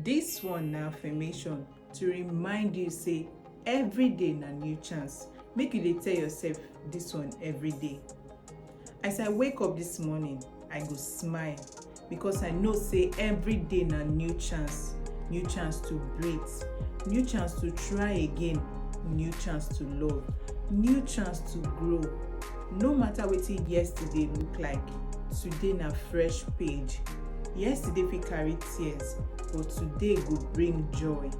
This one na affirmation to remind you say every day na new chance. Make you dey tell yourself this one every day. As I wake up this morning, I go smile because I know say every day na new chance. New chance to breathe, new chance to try again, new chance to love, new chance to grow. No matter wetin yesterday look like, today na fresh page. Yesterday fit carry tears but today go bring joy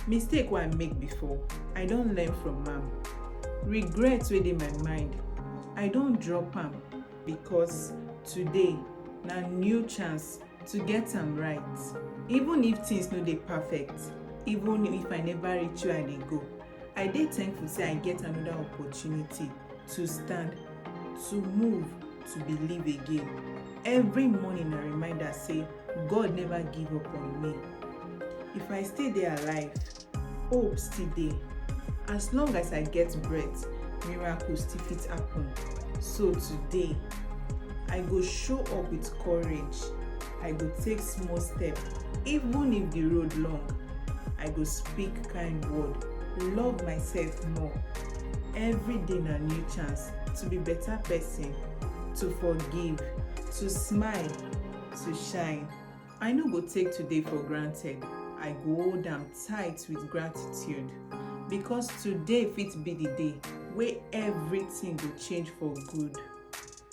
mistake wey i make before i don learn from am regret wey dey my mind i don drop am because today na new chance to get am right even if things no dey perfect even if i never reach where i dey go i dey thankful say i get another opportunity to stand to move to believe again. Every morning na reminder say God never give up on me. If I still dey alive, hope still dey. As long as I get breath, miracle still fit happen. So today, I go show up with courage. I go take small step, even if the road long. I go speak kind word, love myself more, Every day na new chance to be better person, to forgive, to smile, to shine. I no go take today for granted, I go hold am tight with gratitude because today fit be the day wey everything go change for good.